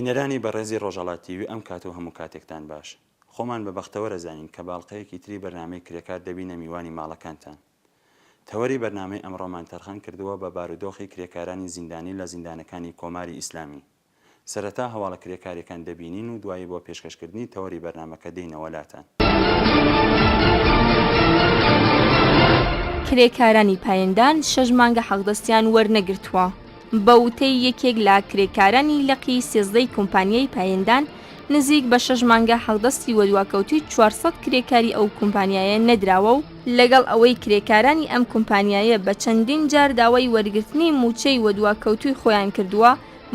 بینەرانی بەڕێزی ڕۆژاڵات تیوی ئەم کات و هەموو کاتێکتان باش. خۆمان بە بەختەوەرە زانین کە باڵقەیەکی تری بەرنامەی کرێکار دەبینە میوانی ماڵەکانتان. تەوەری بەرنامەی ئەمڕۆمان تەرخان کردووە بە بارودۆخی کرێکارانی زیندانی لە زیندانەکانی کۆماری ئیسلامی. سەرەتا هەواڵە کرێکاریەکان دەبینین و دوایی بۆ پێشکەشکردنی تەوەری بەرنامەکە دێینەوە لاتان. کرێکارانی پایندان شەش مانگە حەقدەستیان وەرنەگرتووە. بە وتەی یەکێک لە کرێکارانی لقی سێزدە ی کۆمپانیای پایندان، نزیک بە شەش مانگە حەقدەستی وەدواکەوتووی چوار سەد کرێکاری ئەو کۆمپانیایە نەدراوە و، لەگەڵ ئەوەی کرێکارانی ئەم کۆمپانیایە بە چەندین جار داوای وەرگرتنی مووچەی وەدواکەوتووی خۆیان کردووە،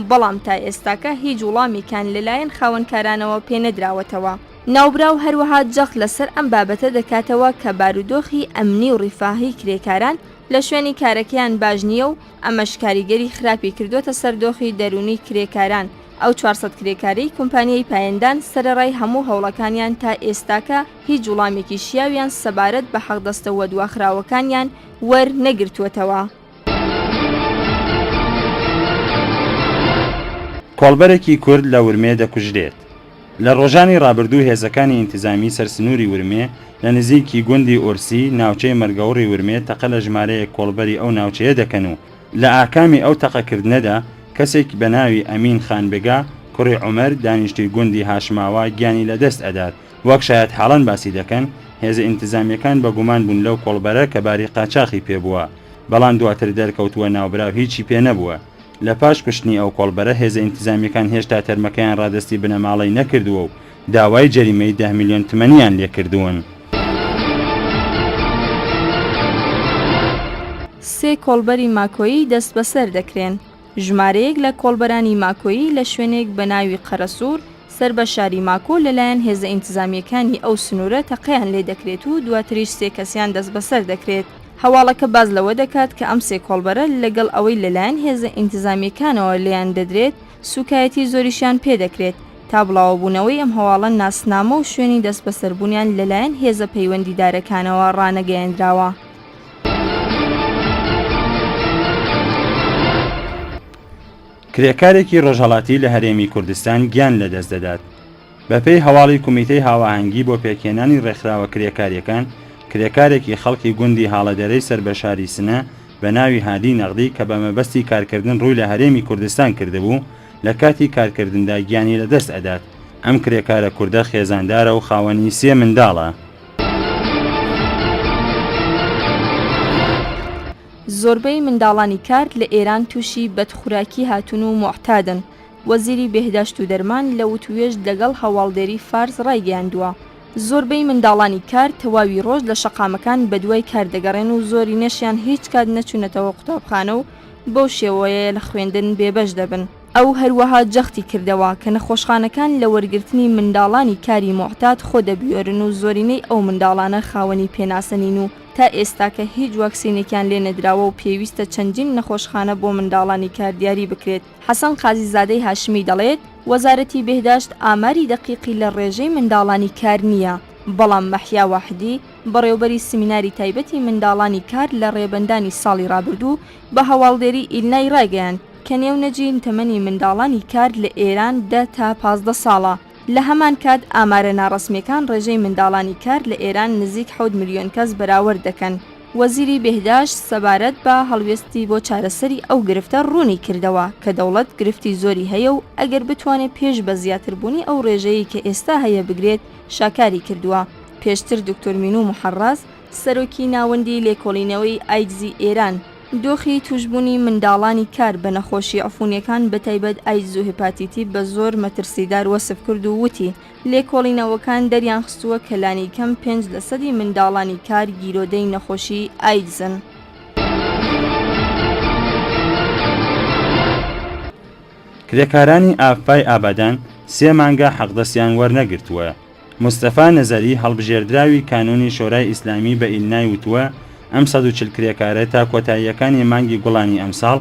بەڵام تا ئێستاکە هیچ وڵامێکیان لەلایەن خاوەنکارانەوە پێ نەدراوەتەوە. ناوبراو هەروەها جەخت لەسەر ئەم بابەتە دەکاتەوە کە بارودۆخی ئەمنی و ڕیفاهی کرێکاران لە شوێنی کارەکەیان باش نییە و، ئەمەش کاریگەری خراپی کردووەتە سەر دۆخی دەروونی کرێکاران، ئەو چوار سەد کرێکارەی کومپانیای پایندان سەرەڕای هەموو هەوڵەکانیان تا ئێستاکە هیچ وڵامێکی شیاویان سەبارەت بە حەقدەستە وەدواخراوەکانیان وەرنەگرتووەتەوە. کۆڵبەرێکی کورد لە ورمێ دەکوژرێت. لە ڕۆژانی ڕابردوو هێزەکانی ئینتزامیی سەر سنووری ورمێ لە نزیکی گوندی ئۆرسی ناوچەی مەرگەوڕی ورمێ تەقە لە ژمارەیەک کۆڵبەری ئەو ناوچەیە دەکەن و لە ئاکامی ئەو تەقەکردنەدا کەسێک بە ناوی ئەمین خان بێگا کوڕی عومەر دانیشتووی گوندی هاشماوا گیانی لە دەست ئەدات. وەک شایەتحاڵان باسی دەکەن، هێزە ئینتزامییەکان بە گومان بوون لەو کۆڵبەرە کە باری قاچاخی پێ بووە، بەڵام دواتر دەرکەوتووە ناوبراو هیچی پێ نەبووە. لە پاش کوشتنی ئەو کۆڵبەرە، هێزە ئینتزامییەکان هێشتا تەرمەکەیان ڕادەستی بنەماڵەی نەکردووە و داوای جەریمەی دە ملیۆن تمەنیان لێ کردوون. سێ کۆڵبەری ماکۆیی دەستبەسەر دەکرێن، ژمارەیەک لە کۆڵبەرانی ماکۆیی لە شوێنێک بە ناوی قەرەسوور سەر بە شاری ماکۆ لەلایەن هێزە ئینتزامییەکانی ئەو سنوورە تەقەیان لێ دەکرێت و دواتریش سێ کەسیان دەستبەسەر دەکرێت. هەواڵەکە باس لەوە دەکات کە ئەم سێ کۆڵبەرە لەگەڵ ئەوەی لەلایەن هێزە ئینتزامییەکانەوە لێیان دەدرێت، سووکایەتی زۆریشیان پێ دەکرێت. تا بڵاوەبوونەوەی ئەم هەواڵە ناسنامە و شوێنی دەستبەسەربوونیان لەلایەن هێزە پەیوەندیدارەکانەوە ڕانەگەیەندراوە. کرێکارێکی ڕۆژهەڵاتی لە هەرێمی کوردستان گیان لەدەست دەدات. بەپێی هەواڵی کومیتەی هاواهەنگی بۆ پێکهێنانی ڕێکخراوە کرێکاریەکان، کرێکارێکی خەڵکی گوندی هاڵەدەرەی سەر بە شاری سنە بە ناوی هادی نەغدی کە بە مەبەستی کارکردن ڕووی لە هەرێمی کوردستان کردبوو، لە کاتی کارکردندا گیانی لەدەست ئەدات. ئەم کرێکارە کوردە خێزاندارە و خاوەنی سێ منداڵە. زۆربەی منداڵانی کار لە ئێران تووشی بەدخوراکی هاتوون و موعتادن. وەزیری بێهداشت و دەرمان لە وتووێژ لەگەڵ هەواڵدێری فارس ڕایگەیاندووە، زۆربەی منداڵانی کار تەواوی ڕۆژ لە شەقامەکان بەدوای کار دەگەڕێن و زۆرینەشیان هیچ کات نەچوونەتەوە قوتابخانە و بەو شێوەیە لە خوێندن بێبەش دەبن. ئەو هەروەها جەختی کردەوە کە نەخۆشخانەکان لە وەرگرتنی منداڵانی کاری موعتاد خۆ دەبوێرن و زۆرینەی ئەو منداڵانە خاوەنی پێناسە نین و تا ئێستاکە هیچ واکسینێکیان لێ نەدراوە و پێویستە چەندین نەخۆشخانە بۆ منداڵانی کار دیاری بکرێت. حەسەن قازیزادەی هاشمی دەڵێت، وەزارەتی بێهداشت ئاماری دەقیقی لە ڕێژەی منداڵانی کار نییە، بەڵام مەحیا واحدی، بەڕێوبەری سمیناری تایبەتی منداڵانی کار لە ڕێبەندانی ساڵی ڕابردوو بە هەواڵدێری ئیلنای ڕایگەیاند کە نێونەجی تەمەنی منداڵانی کار لە ئێران دە تا پازدە ساڵە. لە هەمان کات ئامارە ناڕەسمیەکان ڕێژەی منداڵانی کار لە ئێران نزیک حەوت ملیۆن کەس بەراوەرد دەکەن. وەزیری بێهداشت سەبارەت بە هەڵوێستی بۆ چارەسەری ئەو گرفتە ڕوونی کردەوە کە دەوڵەت گرفتی زۆری هەیە و ئەگەر بتوانێت پێش بە زیاتربوونی ئەو ڕێژەیەی کە ئێستا هەیە بگرێت شاکاری کردووە. پێشتر دکتۆر مینو محەڕڕاز، سەرۆکی ناوەندی لێکۆڵینەوەی ئایدزی ئێران، دۆخی تووشبوونی منداڵانی کار بە نەخۆشی عفوونییەکان بەتایبەت ئایدز و هێپاتیتی بە زۆر مەترسیدار وەسف کرد و وتی، لێکۆڵینەوەکان دەریانخستووە کە لانیکەم پێنج لەسەدی منداڵانی کار گیرۆدەی نەخۆشی ئایدزن. کرێکارانی ئاڤپای ئابادان سێ مانگە حەقدەستیان وەرنەگرتووە. مستەفا نەزەری، هەڵبژێردراوی کانوونی شۆرای ئیسلامی بە ئیلنای وتووە، ئەم سەد و چل کرێکارە تا کۆتاییەکانی مانگی گوڵانی ئەمساڵ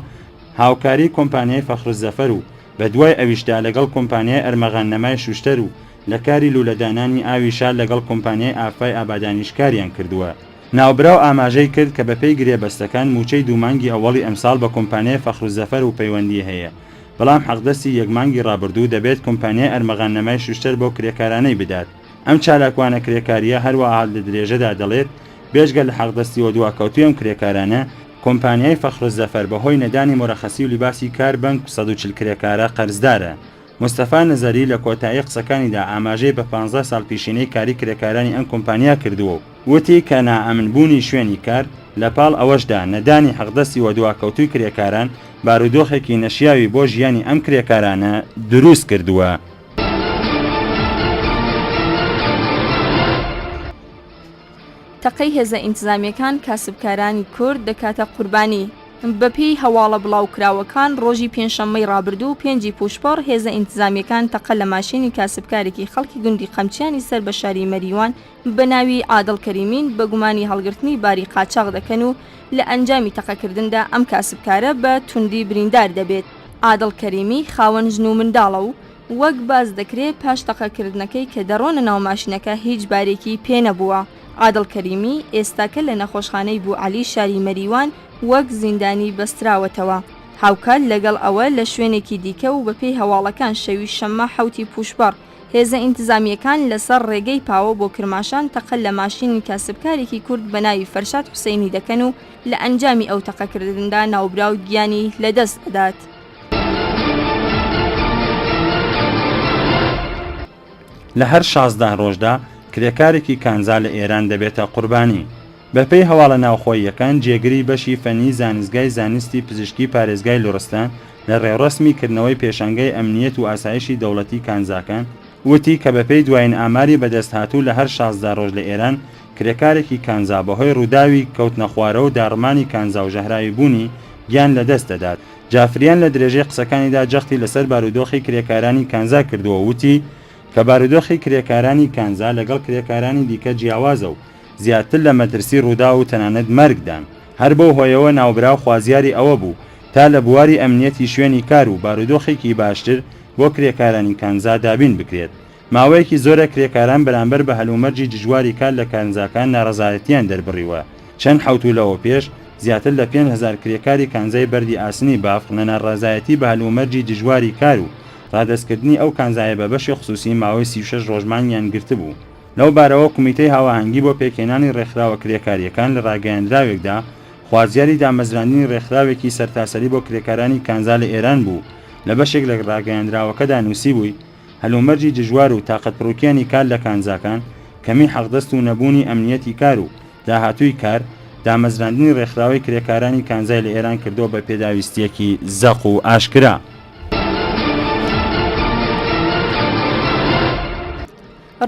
هاوکاری کۆمپانیای فەخرولزەفەر و بە دوای ئەویشدا لەگەڵ کۆمپانیای ئەرمەغان نەمای شوشتەر و لە کاری لوولەدانانی ئاوی شار لەگەڵ کۆمپانیای ئافای ئابادانیش کاریان کردووە. ناوبراو ئاماژەی کرد کە بەپێی گرێبەستەکان مووچەی دوو مانگی ئەوەڵی ئەمساڵ بە کۆمپانیای فەخرولزەفەر وپەیوەندی هەیە بەڵام حەقدەستی یەک مانگی ڕابردوو دەبێت کۆمپانیای ئەرمەغان نەمای شوشتەر بەو کرێکارانەی بدات. ئەم چالاکوانە کرێکارییە هەروەها لە درێژەدا دەڵێت، بێجگە لە حەقدەستییەوە دواکەوتووی ئەم کرێکارانە، کۆمپانیای فەخرولزەفەر بەهۆی نەدانی مورەخەسی و لیباسی کار بەنک سەد و چل کرێکارە قەرزدارە. مستەفا نەزەری لە کۆتایی قسەکانیدا ئاماژەی بە پانزە ساڵ پیشینەی کاری کرێکارانی ئەم کۆمپانیا کردووە و، وتی کە نائەمن بوونی شوێنی کار، لە پاڵ ئەوەشدا نەدانی حەقدەستی وە دواکەوتووی کرێکاران، بارودۆخێکی نەشیاوی بۆ ژیانی ئەم کرێکارانە دروست کردووە. تەقەی هێزە ئینتزامییەکان کاسبکارانی کورد دەکاتە قوربانی. بەپێی هەواڵە بڵاوکراوەکان، ڕۆژی پێنجشەممەی ڕابردوو پێنجی پووشپەڕ هێزە ئینتزامییەکان تەقە لە ماشێنی کاسبکارێکی خەڵکی گوندی قەمچیانی سەر بە شاری مەریوان بە ناوی عادڵ کەریمین بە گومانی هەڵگرتنی باری قاچاغ دەکەن و لە ئەنجامی تەقەکردندا ئەم کاسبکارە بە توندی بریندار دەبێت. عادڵ کەریمی خاوەن ژن و منداڵە و وەک باس دەکرێ پاش تەقەکردنەکەی کە دەڕۆنە ناو ماشینەکە هیچ بارێکی پێ نەبووە. عادڵ کەریمی ئێستاکە لە نەخۆشخانەی بو عەلی شاری مەریوان وەک زیندانی بەستراوەتەوە. هاوکات لەگەڵ ئەوە لە شوێنێکی دیکە و بەپێی هەواڵەکان شەوی شەممە حەوتی پووشبەڕ، هێزە ئینتزامییەکان لەسەر ڕێگەی پاوە بۆ کرماشان تەقە لە ماشینی کاسبکارێکی کورد بە ناوی فەرشاد حوسەینی دەکەن و لە ئەنجامی ئەو تەقەکردندا ناوبراو گیانی لەدەست دەدات. لە هەر شازدە ڕۆژدا کرێکارێکی کانزا لە ئێران دەبێتە قوربانی. بەپێی هەواڵە ناوخۆییەکان، جێگری بەشی فەنی زانستگای زانستی پزیشکی پارێزگای لوڕستان لە رێوڕەسمی کردنەوەی پێشانگای ئەمنییەت و ئاسایشی دەوڵەتی کانزاکان، وتی کە بەپێی دوایین ئاماری بەدەستهاتوو لە هەر شازدە رۆژ لە ئێران کرێکارێکی کانزا بەهۆی رووداوی کەوتنەخوارەوە و داڕمانی کانزا و ژەهراوی بوونی گیان لەدەست دەدات. جافریان لە درێژەی قسەکانیدا جەختی لەسەر بارودۆخی کرێکارانی کانزا کردووە و وتی کە بارودۆخی کرێکارانی کانزا لەگەڵ کرێکارانی دیکە جیاوازە و زیاتر لە مەترسی ڕووداو و تەنانەت مەرگدان، هەر بەو هۆیەوە ناوبراو خوازیاری ئەوە بوو تا لە بواری ئەمنیەتی شوێنی کار و بارودۆخێکی باشتر بۆ کرێکارانی کانزا دابین بکرێت، ماوەیەکی زۆرە کرێکاران بەرامبەر بە هەلومەرجی دژواری کار لە کانزاکان نارەزایەتیان دەربڕیوە، چەند حەوتوو لەوەوپێش زیاتر لە پێنج هەزار کرێکاری کانزای بەردی ئاسنی بافق لە ناڕەزایەتی بە هەلومەرجی دژواری کار و ڕادەستکردنی ئەو کانزایە بە بەشی خسوسی ماوەی سی و شەش ڕۆژ مانگیان گرتبوو. لەو بارەوە کومیتەی هاوئاهەنگی بۆ پێکهێنانی رێکخراوە کرێکارییەکان لە راگەیەندراوێکدا خوازیاری دامەزراندنی رێکخراوێکی سەرتاسەری بۆ کرێکارانی کانزا لە ئێران بوو و لە بەشێک لە راگەیەندراوەکەدا نووسیبووی هەلومەرجی دژوار و تاقەتپڕوکێنی کار لە کانزاکان کەمی حەقدەست و نەبوونی ئەمنییەتی کار و داهاتووی کار دامەزراندنی رێکخراوەی کرێکارانی کانزای لە ئێران کردووە بە پێداویستییەکی زەق و ئاشکرا.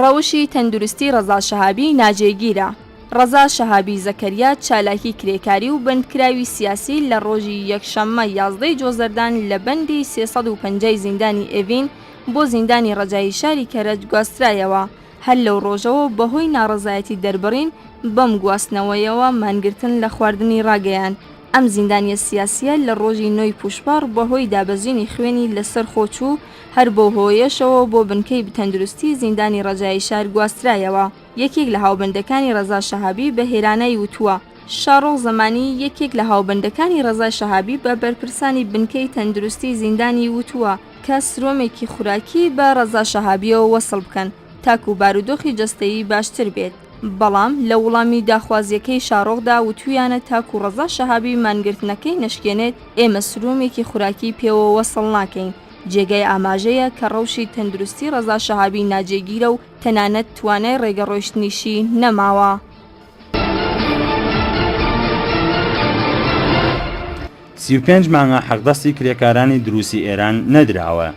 ڕەوشی تەندروستی ڕەزا شەهابی ناجێگیرە ڕەزا شەهابی زەکەریا چالاکی کرێکاری و بەندکراوی سیاسی لە ڕۆژی یەکشەممە یازدەی جۆزەردان لە بەندی سێ سەد و پەنجای زیندانی ئێڤین بۆ زیندانی ڕەجایی شاری کەرەج گواسترایەوە هەر لەو ڕۆژەوە بەهۆی ناڕەزایەتی دەربڕین بەم گواستنەوەیەوە مانگرتن لە خواردنی ڕاگەیاند ئەم زیندانیە سیاسیە لە ڕۆژی نۆی پووشپەڕ بەهۆی دابەزینی خوێنی لەسەر خۆ چوو هەر بەو هۆیەشەوە بۆ بنکەی بتەندروستی زیندانی ڕەجایی شار گواسترایەوە. یەکێک لە هاوبەندەکانی ڕەزا شەهابی بە هێرانای وتووە، شاڕۆخ زەمانی، یەکێک لە هاوبەندەکانی ڕەزا شەهابی بە بەرپرسانی بنکەی تەندروستی زیندانی وتووە کە سرۆمێکی خوراکی بە ڕەزا شەهابییەوە وەسڵ بکەن تاکوو بارودۆخی جەستەیی باشتر بێت، بەڵام لە وڵامی داخوازییەکەی شاڕۆخدا وتوویانە تاکوو ڕەزا شەهابی مانگرتنەکەی نەشکێنێت ئێمە سرۆمێکی خوراکی پێوە وەسڵ ناکەین. جێگای ئاماژەیە کە ڕەوشی تەندروستی ڕەزا شەهابی ناجێگیرە و تەنانەت توانای ڕێگە ڕۆیشتنیشی نەماوە. سی و پێنج مانگە حەقدەستی کرێکارانی دروسی ئێران نەدراوە.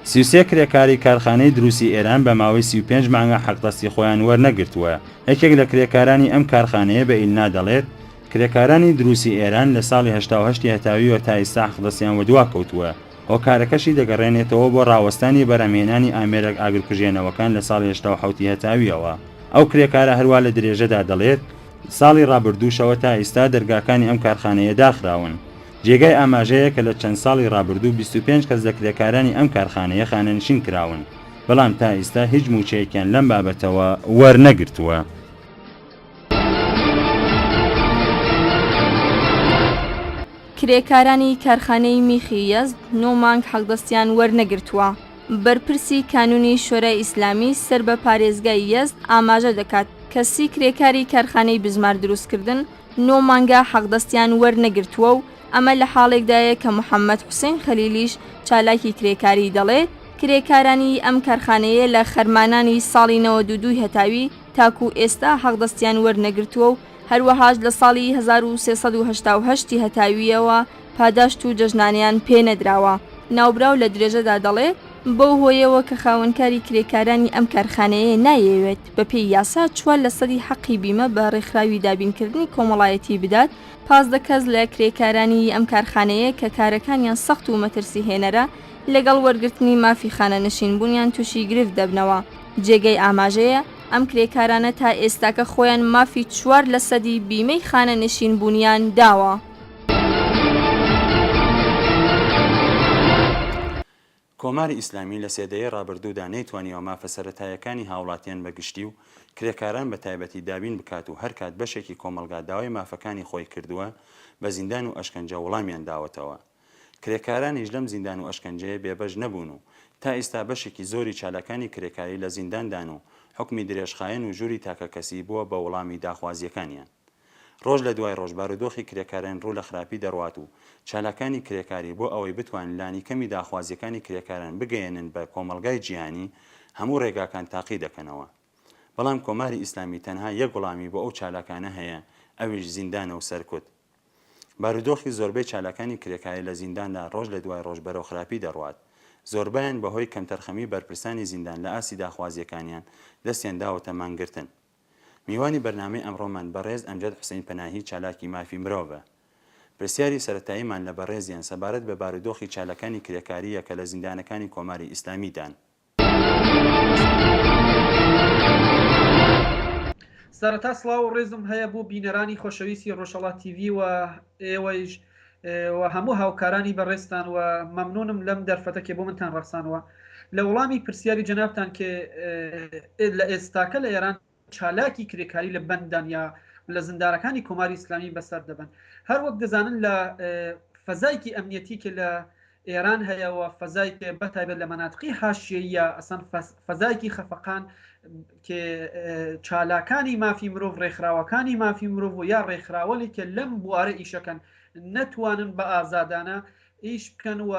سی و سێ کرێکاری کارخانەی دروسی ئێران بە ماوەی سی و پێنج مانگە حەقدەستی خۆیان وەرنەگرتووە، یەکێک لە کرێکارانی ئەم کارخانەیە بە ئیلنا دەڵێت، کرێکارانی دروسی ئێران لە ساڵی هەشتا و هەشت ی هەتاویوە تا ئیستا حەقدەستیان وەدواکەوتووە. هۆکارەکەشی دەگەڕێنێتەوە بۆ ڕاوەستانی بەرهەمهێنانی ئامێرەک ئاگرکوژێنەوەکان لە ساڵی هەشتا و حەوت ی هەتاویەوە. ئەو کرێکارە هەروا لە درێژەدا دەڵێت، ساڵی ڕابردووشەوە تا ئیستا دەرگاکانی ئەم کارخانەیە داخراون. جێگای ئاماژەیە کە لە چەند ساڵی ڕابردوو بیست و پێنج کەس لە کرێکارانی ئەم کارخانەیە خانەنشین کراون، بەڵام تا ئیستا هیچ مووچەیەکیان لەم بابەتەوە وەرنەگرتووە. کرێکارانی کارخانەی میخی یەزد نۆ مانگ حەقدەستیان وەرنەگرتووە. بەرپرسی کانوونی شۆرای ئیسلامی سەر بە پارێزگای یەزد ئاماژە دەکات کە سی کرێکاری کارخانەی بزمار دروستکردن نۆ مانگە حەقدەستیان وەرنەگرتووە و ئەمە لە حاڵێکدایە کە محەممەد حوسێن خەلیلیش چالاکی کرێکاری دەڵێ کرێکارانی ئەم کارخانەیە لە خەرمانانی ساڵی نەوەد و دوو هەتاوی تاکوو ئێستا حەقدەستیان وەرنەگرتووە و هەروەهاش لە ساڵی هەزار و سێ سەد و هەشتا و هەشت ی هەتاوییەوە پاداشت و جەژنانەیان پێ نەدراوە. ناوبراو لە درێژەدا دەڵێ، بەو هۆیەوە کە خاوەنکاری کرێکارانی ئەم کارخانەیە نایەوێت بەپێی یاسا چوار لەسەدی حەقی بیمە بە رێکخراوی دابینکردنی کۆمەڵایەتی بدات، پازدە کەس لە کرێکارانی ئەم کارخانەیە کە کارەکانیان سەخت و مەترسیهێنەرە، لەگەڵ وەرگرتنی مافی خانەنشینبوونیان تووشی گرفت دەبنەوە. جێگەی ئاماژەیە ئەم کرێکارانە تا ئێستاکە خۆیان مافی چوار لە سەدی بیمەی خانەنشین بوونیان داوە. کۆماری ئیسلامی لە سێ دەیەی ڕابردوودا نەیتوانیوە مافە سەرەتاییەکانی هاوڵاتیان بە گشتی و کرێکاران بە تایبەتی دابین بکات و هەرکات بەشێکی کۆمەڵگا داوای مافەکانی خۆی کردووە بە زیندان و ئەشکەنجە وڵامیان داوەتەوە. کرێکارانیش لەم زیندان و ئەشکەنجەیە بێبەش نەبوون و تا ئیستا بەشێکی زۆری چالاکانی کرێکاری لە زینداندان و حوکمی درێژخایەن و ژووری تاکەکەسی بووە بە وڵامی داخوازییەکانیان. ڕۆژ لە دوای ڕۆژ بارودۆخی کرێکاران ڕوو لە خراپی دەڕوات و چالاکانی کرێکاری بۆ ئەوەی بتوانن لانیکەمی داخوازییەکانی کرێکاران بگەیەنن بە کۆمەڵگای جیهانی هەموو ڕێگاکان تاقی دەکەنەوە بەڵام کۆماری ئیسلامی تەنها یەک وڵامی بۆ ئەو چالاکانە هەیە ئەویش زیندانە و سەرکوت. بارودۆخی زۆربەی چالاکانی کرێکاری لە زینداندا ڕۆژ لە دوای ڕۆژ بەرەو خراپی دەڕوات، زۆربەیان بە هۆی کەمتەرخەمیی بەرپرسانی زیندان لە ئاستی داخوازییەکانیان، دەستیان داوەتە مانگرتن. میوانی بەرنامەی ئەمڕۆمان بەڕێز ئەمجەد حوسەین پەناهی چالاکی مافی مرۆڤە. پرسیاری سەرەتاییمان لە بەڕێزیان سەبارەت بە بارودۆخی چالەکانی کرێکارییە کە لە زیندانەکانی کۆماری ئیسلامیدان. سەرەتا سڵاو و ڕێزم هەیە بۆ بینەرانی خۆشەویستی ڕۆژهەڵات تیڤی و ئێوەیش و هەموو هاوکارانی بەڕێزتان و مەمنونم لەم دەرفەتە کە بۆ منتان ڕەخسانەوە لە وەڵامی پرسیاری جەنابتان کە لە ئێستاکە لە ئێران چالاکی کرێکاری لە بەندان یا لە زندانەکانی کۆماری ئیسلامی بەسەر دەبەن. هەر وەک دەزانن لە فەزایەکی ئەمنیەتی کە لە ئێران هەیە و فەزایەکێ بە تایبەت لە مەناتقی حاشیەییە ئەسەن فەزایەکی خەفەقان کێ چالاکانی مافی مرۆڤ ڕێکخراوەکانی مافی مرۆڤ و یا ڕێکخراوەێکێ لەم بوارە ئیشەکەن نەتوانن بە ئازادانە ئیش بکەن و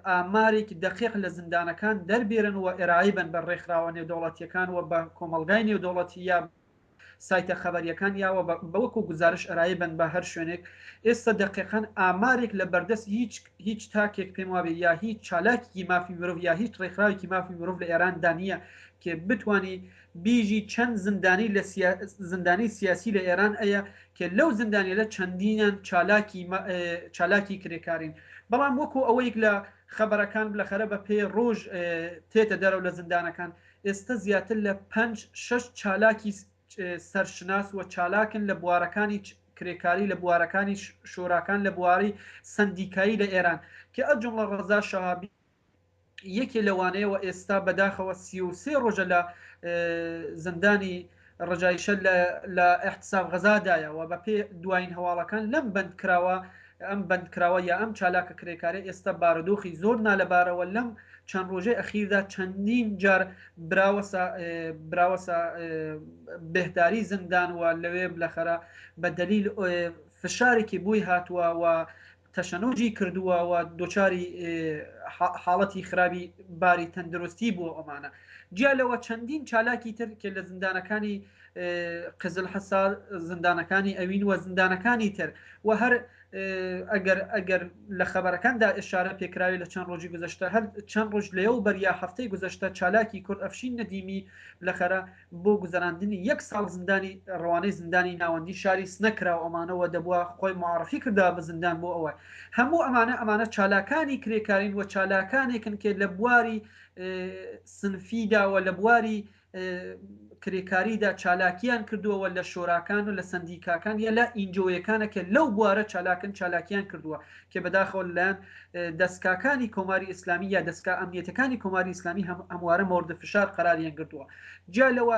ئامارێکی دەقیق لە زیندانەکان دەربێرن و ئێرایی بن بە ڕێکخراوە نێودەوڵەتیەکان و بە کۆمەڵگای نێودەوڵەتی یا سایتە خەبەریەکان یاوە بەوەکو گوزارش ئەرایی بن بە هەر شوێنێک ئێستا دەقیقەن ئامارێک لە بەردەست هیچ هیچ تاکێک پێم وابێ یا هیچ چالاکی مافی مرۆڤ یا هیچ ڕێکخراوێکی مافی مرۆڤ لە ئێراندا نییە کێ بتانی بیژی چەند زندانی لە زندانی سیاسی لە ئێران ئەیە کە لەو زندانیەلە چەندینیان چالاکی چالاکی کرێکارین بەڵام وەکو ئەوەیک لە خەبەرەکان بلەخەرە بە پێ ڕوژ تێتە دەرەو لە زندانەکان ئێستە زیاتر لە پەنج شەش چالاکی سەرشناس وە چالاکن لە بوارەکانی کرێکاری لە بوارەکانی شوراکان لە بواری سەندیکایی لە ئێران کە ئەو جمڵە ڕەزا شەهابی یەکێ لەوانەیە و ئێستا بەداخەوە سی و سێ ڕۆژە لە زندانی ڕەجایشە لە ئیحتساب غەزا دایە و بە پێ دواین هەواڵەکان لەم بەند کراوە ئەم بەند کراوە یا ئەم چالاکە کرێکارە ئێستا بارودۆخی زۆر نالەبارە و لەم چەند ڕۆژەی ئەخیردا چەندین جار براوەسە براوەسە بهداری زندان و لەوێ بلەخەرە بە دەلیل فشارێکی بووی هاتووە و تەشەنوجی کردووە و دوچاری حاڵەتی خراوی باری تەندروستی بووە ئەمانە جیا لەوە چەندین چالاکی تر کە لە زندانەکانی قزل حسار زندانەکانی ئەوین و زندانەکانی تر و هەر ئەگەر ئەگەر لە خەبەرەکاندا ئشارە پێکراوی لە چەند ڕۆژی گوزەشتە هەر چەند ڕژ لێو بەریا هەفتەی گوزەشتە چالاکی کورد ئەفشین ندیمی لە خەرە بۆ گوزەراندنی یەک ساڵ زیندانی ڕەوانەی زیندانی ناوەندی شاری سنە کراو ئەمانە وە دەبوا خۆی معرفی کردبا بە زیندان بۆ ئەوە هەموو ئەمانە ئەمانە چالاکانی کرێکارین وە چالاکانێکن کە لە بواری سنفی دا وە لە بواری کرێکاری دا چالاکیان کردووە وە لە شۆراکان و لە سندیکاکان یا لە ئینجۆیەکانە کە لەو بوارە چالاکن چالاکیان کردووە کە بەداخەوە لەلایەن دەزکاکانی کۆماری ئیسلامی یا دەزکا ئەمنیەتەکانی کۆماری ئیسلامی هەموارە مۆردە فشار قەراریان گرتووە جیا لەوە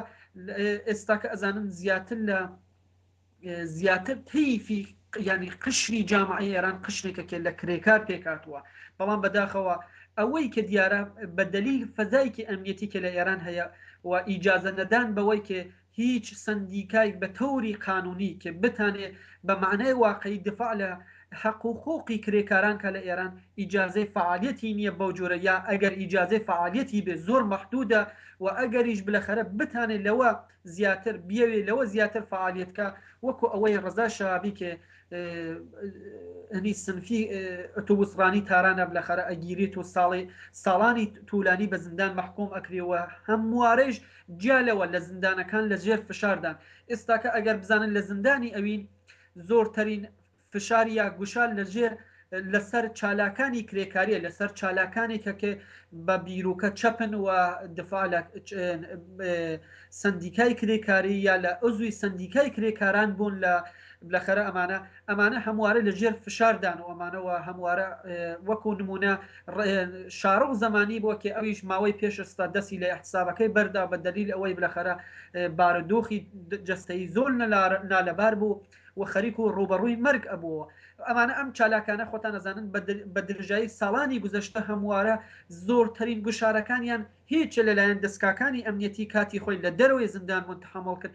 ئێستاکە ئەزانن زیاتر لە زیاتر تیفی ینی قشری جامعی ئێران قشتێکە کێ لە کرێکار پێکاتوە بەڵام بەداخەوە ئەوەی کە دیارە بە دلیل فەزایکی ئەمنیەتی کە لە ئێران هەیە و ئیجازە نەدان بەوەی کە هیچ سەندیکایک بە تەوری قانونی کە بتانێ بە مەعنای واقعی دفاع لە حەق و حقوقی کرێکاران کا لە ئێران ئیجازەی فەعالیەتی نیە بەو جۆرە یا ئەگەر ئیجازەی فەعالیەتی بێ زۆر مەحدودە و ئەگەریش بلەخەرە بتانێ لەوە زیاتر بیەوێ لەوە زیاتر فەعالیەت کا وەکو ئەوەی رەزا شەهابی کە هنی سنفی ئەتوبوس رانی تارانە بلەخەرە ئەگیرێت و ساڵێ ساڵانی تولانی بە زندان مەحکوم ئەکرێ و هەموارەیش جیا لەوە لە زندانەکان لە ژێر فشاردان ئێستاکە ئەگەر بزانن لە زندانی ئەوین زۆرترین فشار یا گوشار لە ژێر لەسەر چالاکانی کرێکاریە لەسەر چالاکانی کە کە بە بیرروکە چەپن و دفاع لە سندیکای کرێکاری یا لە ئەزوی سندیکای کرێکاران بوون لە بلەخەرە ئەمانە ئەمانە هەموارە لە ژێر فشار دان و ئەمانە وە هەموارە وەکوو نموونە شارۆ و زەمانی بۆ کێ ئەویش ماوەی پێش ئێستا دەسی لە ئیحتسابەکەی بەردا بە دەلیل ئەوەی بلەخەرە بارودۆخی جەستەیی زۆر نالەبار بوو و خەریک و ڕووبەڕووی مەرگ ئەبووەوە ئەمانە ئەم چالاکانە خۆتان ئەزانن بە درژایی ساڵانی گوزەشتە هەموارە زۆرترین گوشارەکانیان هیچ لەلایەن دەسکاکانی ئەمنیەتی کاتی خۆی لە دەرەوەی زیندان بوون تەحەموڵ کرد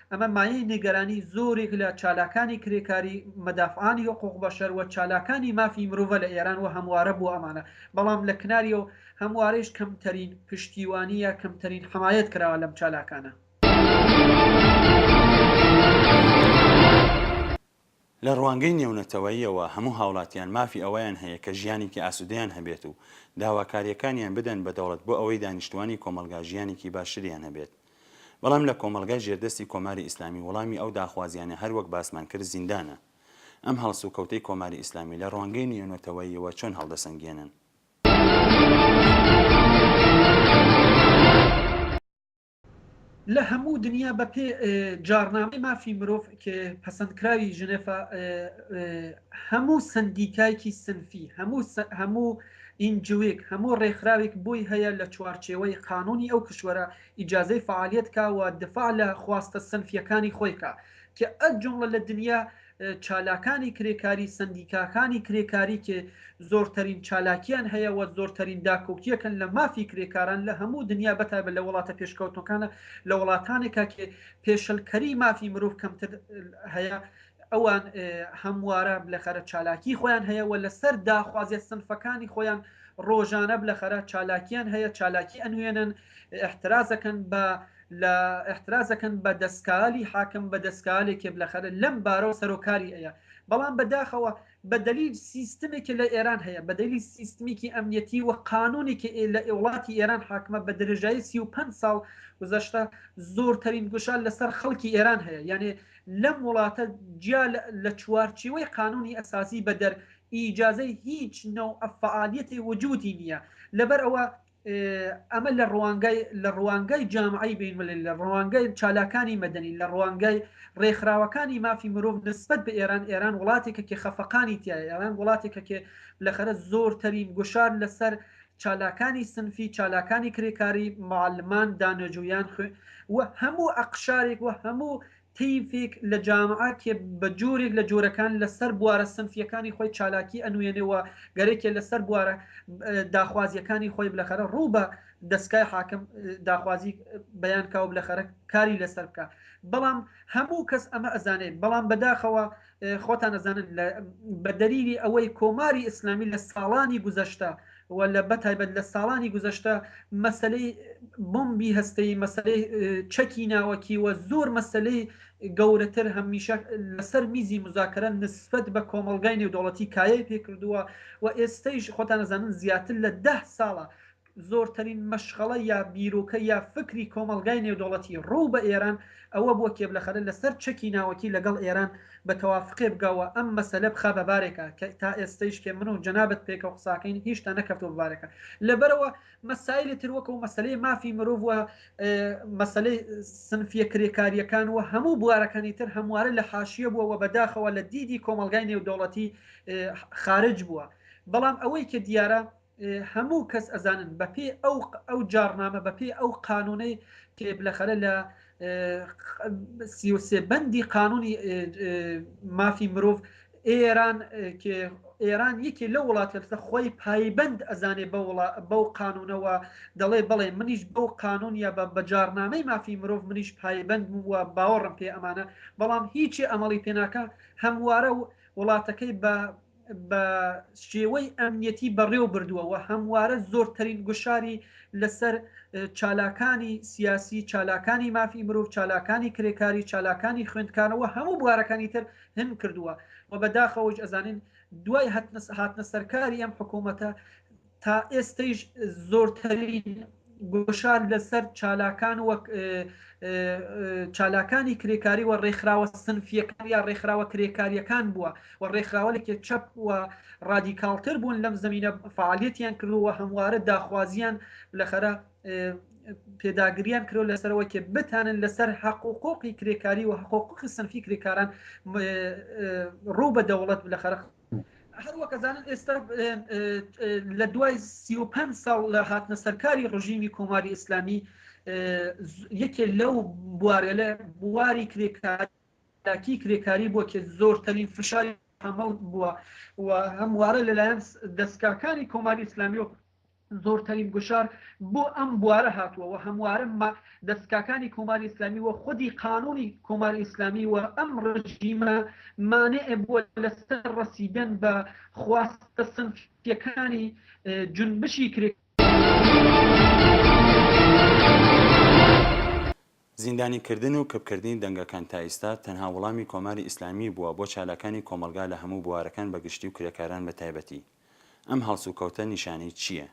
ئەمە مایەی نیگەرانی زۆرێک لە چالاکانی کرێکاری، مدافعانی حقوق بشر، و چالاکانی مافی مرۆڤە لە ئێران و هەموارە بۆ ئەمانە، بەڵام لە کناریەوە هەموارەیش کەمتەرین پشتیوانی یا کەمتەرین حمایەت کراوە لەم چالاکانە. لە ڕوانگەی نێونەتەوەییەوە هەموو هاوڵاتیان مافی ئەوەیان هەیە کە ژیانێکی ئاسوودەیان هەبێت و داواکارییەکانیان بدەن بە دەوڵەت بۆ ئەوەی دانیشتووانی کۆمەڵگا ژیانێکی باشتریان هەبێت بەڵام لە کۆمەڵگای ژێردەستی کۆماری ئیسلامی وڵامی ئەو داخوازیانە هەر وەک باسمان کرد زیندانە ئەم هەڵسوکەوتەی کۆماری ئیسلامی لە ڕوانگەی نێونەتەوەییەوە چۆن هەڵدەسەنگێنن؟ لە هەموو دنیا بە پێ جاڕنامەی مافی مرۆڤ کە پەسەندکراوی ژنێفە هەموو سندیکایکی سنفی هەموو هەموو ئینجوێک هەموو ڕێکخراوێک بۆی هەیە لە چوارچێوەی قانونی ئەو کشوەرە ئیجاازەی فعالیت کاوە دفاع لە خواستە سنفیەکانی خۆیکە کە ئەت جملە لە دنیا چالاکانی کرێکاری سەندیکاکانی کرێکاری کە زۆرتەرین چالاکیان هەیە و زۆرتەرین داکۆکیەکەن لە مافی کرێکاران لە هەموو دنیا بەتایبە لە وڵاتە پێشکەوتەکانە لە وڵاتانێکا کە پێشلکەری مافی مرۆڤ کەمتر هەیە ئەوان هەموارە بلەخەرە چالاکی خۆیان هەیە و لەسەر داخوازیە سنفەکانی خۆیان ڕۆژانە بلەخەرە چالاکیان هەیە چالاکی ئەنوێنن احترازەکەن بە لە احترازەکەن بە دەستکالی حاکم بە دەستکالێک کێبلەخەرە لەم بارەوە سەرۆکاری ئەە بەڵام بەداخەوە بە دەلیل سیستمێکی لە ئێران هەیە بە دەلی سیستمیکی ئەمنیەتی و قانونێکی لە وڵاتی ئێران حاکمە بە درێژایی 35 ساڵ گزەشتە زۆرترین گوشار لەسەر خەڵکی ئێران هەیە یعنی لەم وڵاتە جیا لە چوارچیوەی قانونی ئەساسی بەدەر ئیجاازەی هیچ نەو ئەفعالیەتی وجودی نییە لەبەر ئەوە ئەمە لە ڕوانگەی لە ڕوانگەی جامعەی بینملی لە ڕوانگەی چالاکانی مەدەنی لە ڕوانگەی ڕێکخراوەکانی مافی مرۆڤ نسبەت بە ئێران ئێران وڵاتێکە کێ خەفەقانی تیایە ئێران وڵاتێکە کێ لەخەرە زۆرترین گوشار لەسەر چالاکانی سنفی چالاکانی کرێکاری معلمان دانەجویان خوێ و هەموو ئەقشارێک و هەموو تەیفێک لە جامعە کە بە جۆرێک لە جۆرەکان لە سەر بوارە سنفییەکانی خۆی چالاکی ئەنوێنێ و گەرەکێ لە سەر بوارە داخوازییەکانی خۆی بلەخەرە ڕوو بە دەسکای حاکم داخوازییک بەیان کا و بلەخەرە کاری لە سەر بکا بەڵام هەموو کەس ئەمە ئەزانێ بەڵام بەداخەوە خۆتان ئەزانن بە دەلیلی ئەوەی کۆماری ئیسلامی لە ساڵانی گوزەشتە و لە بەتایبەت لە ساڵانی گوزەشتە مەسلەی بمبی هەستەی مەسلەی چەکی ناوەکی و زۆر مەسلەی گەورەتر هەمیشە لەسەر میزی مزاکرە نسبت بە کۆمەلگای نێودوڵەتی کایە پێکردووە و ئێستەیش خۆتانەزانن زیاتر لە ده ساڵە زۆرترین مەشغەڵە یا بیرۆکە یا فکری کۆمەڵگای نێودەوڵەتی ڕوو بە ئێران ئەوە بووە کێبلەخەرە لە سەر چەکی ناوەکی لە گەڵ ئێران بە تەوافقێ بگا و ئەم مەسەلە بخا بە بارێکا کە تا ئێستەیش کە من و جەنابت پێکەوە قساکەین هیشتا نەکەفتووە بە بارێکا لە بەرەوە مەسایلی تر وەکوو مەسەلەی مافی مرۆڤ و مەسەلەی سنفیە کرێکاریەکان و هەموو بوارەکانی تر هەموارە لە حاشیە بووە و بەداخەوە لە دیدی کۆمەڵگای نێودەوڵەتی خارج بووە بەڵام ئەوەی کە دیارە هەموو کەس ئەزانن بە پێی ئەو ئەو جاڕنامە بە پێی ئەو قانونەی کێبلەخەرە لە سیوسێ بەندی قانونی مافی مرۆڤ ئێران ئێران یەکێ لە وڵاتە لەسە خۆی پایبند ئەزانێ بەو قانونەوە دەڵێ بڵێ منیش بەو قانون یا بە بەجارنامەی مافی مرۆڤ منیش پایبند وە باوەڕم پێ ئەمانە بەڵام هیچی ئەمەڵی پێناکە هەموارە و وڵاتەکەی بە بە شێوەی ئەمنیەتی بەڕێو بردووە و هەموارە زۆرترین گوشاری لە سەر چالاکانی سیاسی، چالاکانی مافی مرۆڤ، چالاکانی کرێکاری، چالاکانی خوێندکارە و هەموو بوارەکانی تر هن کردووە و بە داخەوەش ئەزانین دوای هاتنە سەرکاری ئەم حکوومەتە، تا ئێستەیش زۆرترین گوشار لەسەر چالاکان وەک چالاکانی کرێکاری و ڕێکخراوە سنفیەکان یا ڕێکخراوە کرێکاریەکان بووە و ڕێکخراوەێکی چەپ و ڕادیکاڵتر بوون لەم زمینە فعالەتیان کردووە هەموارە داخوازیان لەخەرە پێداگریان کرۆ لەسەرەوە کێ بتانن لەسەر حقوقۆقی کرێکاری و حقوقی سنفی کرێکاران ڕوو بە دەوڵەت لە خەرق هەروەکەزانن ئێستا لە دوای سی و پێنج ساڵ لە هاتنە سەرکاری ڕژیمی کۆماری ئیسلامی یەکێ لەو بوارە لە بواری کرێکارکی کرێکاری بۆ کێ زۆرترین فشاری هەمەڵ بووە و هەموارە لەلایەن دەستکاکانی کۆماری ئیسلامی و زۆرترین گوشار بۆ ئەم بوارە هاتووە و هەموارە مە دەسکاکانی کۆماری ئیسلامی و خودی قانوونی کۆماری ئیسلامی و ئەم ڕژیمە مانع بووە لە سەر ڕەسیدەن بە خواستە سنفیەکانی جونبشی کرێکاری. زیندانیکردن و کپکردنی دەنگەکان تا ئیستا تەنها وڵامی کۆماری ئیسلامی بووە بۆ چالاکانی کۆمەڵگا لە هەموو بوارەکان بە گشتی و کرێکاران بە تایبەتی. ئەم هەڵسوکەوتە نیشانەی چییە؟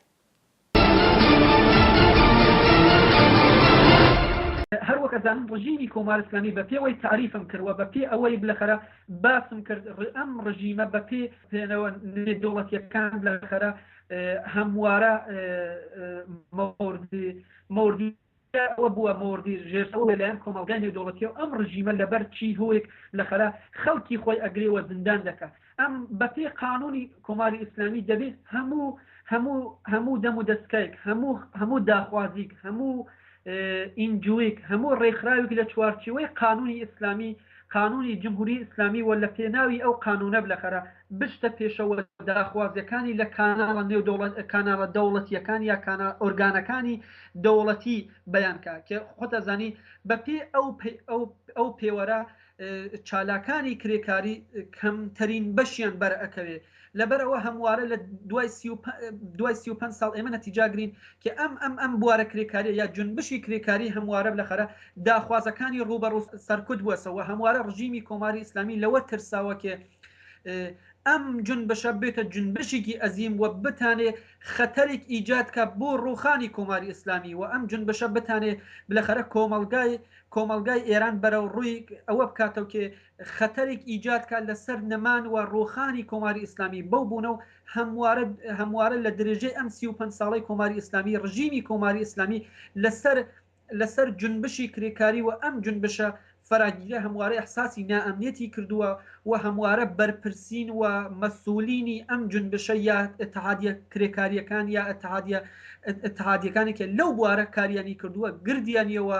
هەر وەک ئەزانن ڕژیمی کۆمار ئیسلامی بە پێوەی تەعریفم کرد و بە پێ ئەوەی بلەخەرە باسم کرد ئەم ڕژیمە بە پێ پێنەوە نێودەوڵەتیەکان بلەخەرە هەموارە مۆردی جا ئەوە بووە مۆڕدی ژێرسەوە لەلایەن کۆمەڵگای نێودەوڵەتیەوە ئەم ڕژیمە لەبەر چی هۆیەک لەخەرا خەڵکی خۆی ئەگرێ وە زندان دەکا ئەم بەپێی قانونی کۆماری ئیسلامی دەبێ هەموو هەموو هەموو دەم و دەسکەیک هەموو هەموو داخوازیک هەموو ئینجویک هەموو ڕێکخراویک لە چوارچیوەی قانونی ئیسلامی قانونی جمهوری ئیسلامی و لە پێناوی ئەو قانونە بلەخەرە بچتە پێشەوە داخوازیەکانی لە کاناڵە نێو دەوڵەت کاناڵە دەوڵەتیەکان یا کاناڵ ئۆرگانەکانی دەوڵەتی بیان کا کە خۆت ئەزانی بە پێی ئەو پەی ئەو ئەو پێوەرە چالاکانی کرێکاری کەمتەرین بەشیان بەرئەکەوێ لەبەر ئەوە هەموارە لە دوای سی و دوای سی و پەنج ساڵ ئێمە نەتیجاگرین کە ئەم ئەم ئەم بوارە کرێکاریە یا جنبشی کرێکاری هەموارە لەخەرە داخوازەکانی ڕوبەڕوو سەرکوت بووەسەوە هەموارە ڕژیمی کۆماری ئیسلامی لەوە ترساوە کێ ئەم جنبشە بێتە جنبشێکی ئەزیم و بتانێ خەتەرێک ئیجاد کە بۆ ڕوخانی کۆماری ئیسلامی و ئەم جنبشە بتانێ بلەخەرە کۆمەلگای کۆمەلگای ئێران بەرەو ڕووی ئەوە بکاتەوە کێ خەتەرێک ئیجاد کا لە سەر نەمان و ڕووخانی کۆماری ئیسلامی بەو بوونە و هەموارە هەموارە لە درێژەی ئەم سی و پەنج ساڵەی کۆماری ئیسلامی ڕژیمی کۆماری ئیسلامی لە سەر لە سەر جونبشی کرێکاری و ئەم جونبشە فەراگیرە هەموارە ئیحساسی نائەمنیەتی کردووە و هەموارە بەرپرسین و مەسوولینی ئەم جونبشە یا ئیتحادیە کرێکاریەکان یا ئیتحادیە ئیتحادیەکانێکە لەو بوارە کاریانی کردووە گردیانیەوە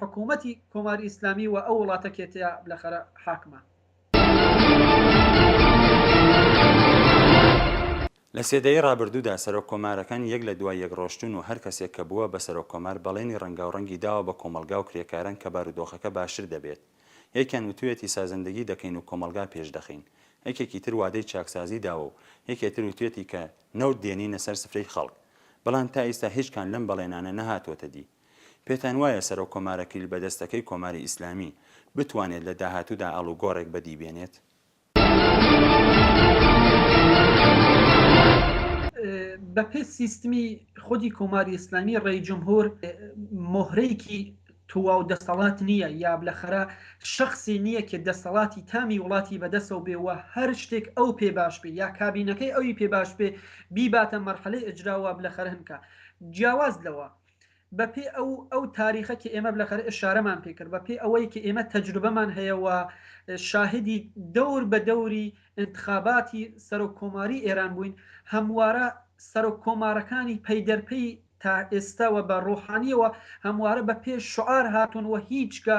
حکومەتی کۆماری ئیسلامی و ئەو وڵاتە کێتەیە لە خەرە حاکمە. لە سێدەی ڕابردوودا سەرۆک کۆمارەکان یەک لە دوای یەک ڕۆشتوون و هەر کەسێک کە بووە بە سەرۆک کۆمار بەڵێنی ڕەنگاوڕەنگی داوە بە کۆمەڵگا و کرێکاران کە بارودۆخەکە باشتر دەبێت یەکیان وتویەتی سازندگی دەکەین و کۆمەڵگا پێش دەخەین یەکێکی تر وادەی چاکسازی داوە و یەکێ تر وتویەتی کە نەوت دێنینە سەر سفرەی خەڵک بەڵام تا ئیستا هیچ کام لەم بەڵێنانە نەهاتوەتە دی. پێتان وایە سەرۆک کۆمارە کلیل بەدەستەکەی کۆماری ئیسلامی بتوانێت لە داهاتوودا ئاڵوگۆڕێک بەدی بێنێت؟ بەپێ سیستمی خودی کۆماری ئیسلامی ڕێی جمهور مهرەیەکی تواو دەستەڵات نییە یا بلەخەرە شخصی نییە کە دەستەڵاتی تامی وڵاتی بەدەسەوە بێ و هەر شتێک ئەو پێ باش بێ یا کابینەکەی ئەوی پێ باش بێ بیباتە مەرحەلەی ئەجرا و بلەخەرهنکە جیاواز لەوە بە پێ ئەو ئەو تاریخە کە ئێمە بلەخەرە ئشارەمان پێ کرد بە پێ ئەوەی کە ئێمە تەجروبەمان هەیە و شاهدی دەور بە دەوری ئنتخاباتی سەرۆک کۆماری ئێران بووین هەموارە سەرۆک کۆمارەکانی پەیدەرپەی تا ئێستەوە بە ڕۆحانیەوە هەموارە بە پێ شعار هاتوون و هیچگە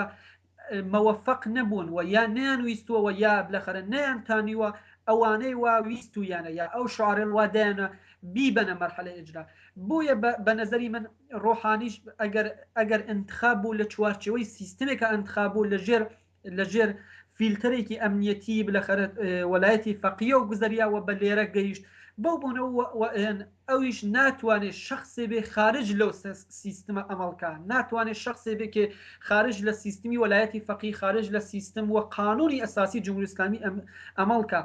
مەوەفەق نەبوون و یا نەیان ویستووە و یا بلەخەرە نەیان تانیوە ئەوانەی وا ویستوویانە یا ئەو شعرەل وا دایانە بیبەنە مەرحەلەی ئیجرا بۆیە بە بە نەزەری من ڕۆحانیش ئەگەر ئەگەر ئینتخاب بوو لە چوارچێوەی سیستمێکە ئەنتخاب بوو لە ژێر لە ژێر فیلتەرێکی ئەمنیەتی بلەخەرە وەلایەتی فەقیە و گوزەریا و بە لێرە گەیشت بەو بۆنەوە ئەویش ناتوانێ شەخسێ بێ خارج لەو سیستمە ئەمەڵکا، ناتوانێ شەخسێ بێ کێ خارج لە سیستمی وەلایەتی فەقیه، خارج لە سیستم و قانوونی ئەساسی جمهوری ئیسلامی ئەمەڵکا.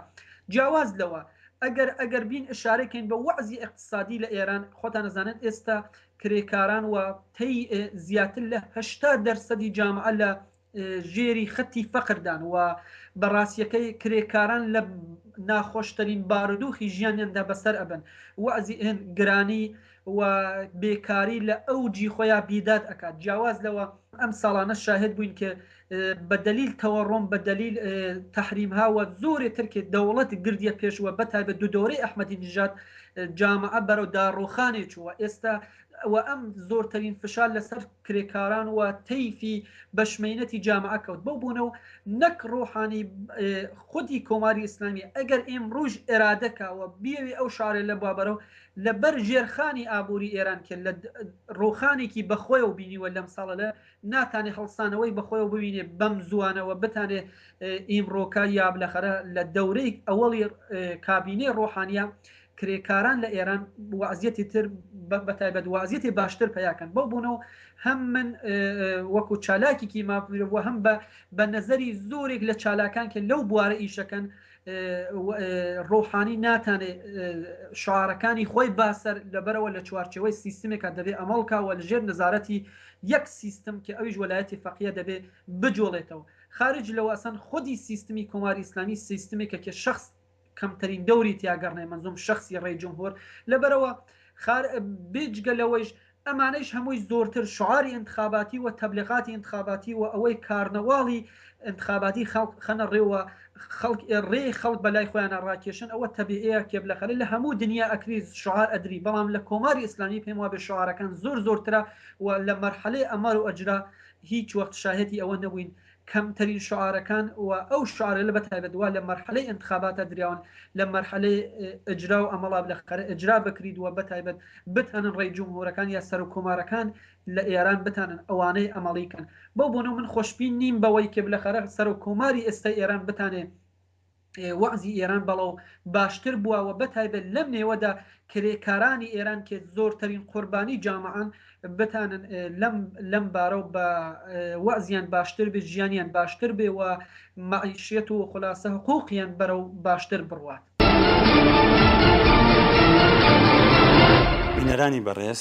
جیاواز لەوە، ئەگەر ئەگەر بین ئشارە کەین بە وەعزی ئیقتسادی لە ئێران، خۆتان ئەزانن ئێستا کرێکاران و تەی زیاتر لە هەشتا دەرسەدی جامعە لە ژێری خەتی فەقردان و بەڕاستیەکەی کرێکاران لە ناخۆشترین بارودوخی ژیانیاندا بەسەر ئەبن وەزی ئێن گرانی و بێکاری لە ئەو جی خۆیان بیداد ئەکات جیاواز لەوە ئەم ساڵانە شاهد بووین کە بە دلیل تەوەڕۆم بە دلیل تحریم هاوە زۆرێ ترکێ دەوڵەت گردە پێشوە بەتای بە دو دۆری ئەحمەدی نژات جامعە بەرەو داڕوخانێ چووە ئێستا و ئەم زۆرترین فشار لەسەر کرێکاران و تەیفی بەشمەینەتی جامعە کەوت بەو بوونە و نەک ڕۆحانی خودی کۆماری ئیسلامی ئەگەر ئێم ڕوژ ئێرادەکەوە بیەوێ ئەو شارێ لە بابەرەوە لەبەر ژێرخانی ئابووری ئێران کرد لە ڕۆخانێکی بەخۆی و بینیوە لەم ساڵە لە ناتانێ هەڵسانەوەی بەخۆی و ببینێ بەم زوانەوە بتانێ ئیمڕۆکە یاب لەخەرە لە دەورەی ئەوەڵی کابینەی ڕۆحانە کرێکاران لە ئێران وەزیەتی تر بەتایبەت وازیەتی باشتر پیاکەن بەو بوونەوە هەم من وەکو چالاکیکی ماپیرەوە هەم بە بە نەزەری زۆرێک لە چالاکان کە لەو بوارە ئیشەکەن ڕۆحانی ناتانێ شارەکانی خۆی باسەر لەبەرەوە لە چوارچەوەی سیستمێکە دەبێ ئەمەڵکەوە لەژێر نەزارەتی یەک سیستم کە ئەویش وەلایەتی فەقیە دەبێ بجۆڵێتەوە خارج لەوەسەن خودی سیستمی کۆماری ئیسلامی سیستمێکە کە شخص کەمترین دەوری تیا گەڕنەی مەنزوم شەخسی ڕێی جمهور لەبەرەوە خار بێجگە لەوەیش ئەمانەیش هەمووی زۆرتر شعاری ئینتخاباتی و تەبلیغاتی ئینتخاباتی و ئەوەی کارنەواڵی ئینتخاباتی خەڵک خەنە ڕێوە خەڵک ڕێ خەڵک بەلای خۆیانە ڕاکێشن ئەوە تەبیعەیە کێبلەخەلە لە هەموو دنیا ئەکری شعار ئەدری بەڵام لە کۆماری ئیسلامی پێم وابێ شعارەکان زۆر زۆرترە و لە مەرحەلەی ئەمەر و ئەجرا هیچ وەخت شاهێتی ئەوە نەبووین کەم ترین شعارەکان و ئەو شعارە لە بەتایبەت وا لە مەرحەلەی ئینتخاباتە دراون لە مەرحەلەی ئیجرا و ئەمەڵا بلەخەرە ئیجرا بکریت و بەتایبەت بتانن ڕێی جمهورەکان یا سەرۆک کۆمارەکان لە ئێران بتانن ئەوانەی ئەمەڵی کەن بەو بۆنەو من خۆشبین نیم بەوەی کە بلەخەرە سەرۆک کۆماری ئێستای ئێران بتانێ وەعزی ئێران بەڵەو باشتر بوە وە بەتایبەت لەم نێوەدا کرێکارانی ئێران کێ زۆرتەرین قۆربانی جامەعەن بتانن لەم لەم بارەو بە وەعزیان باشتر بێ ژیانیان باشتر بێ وە مەعیشیەت و خولاسە حقوقیان بەرەو باشتر بڕوات. بینەرانی بەڕێز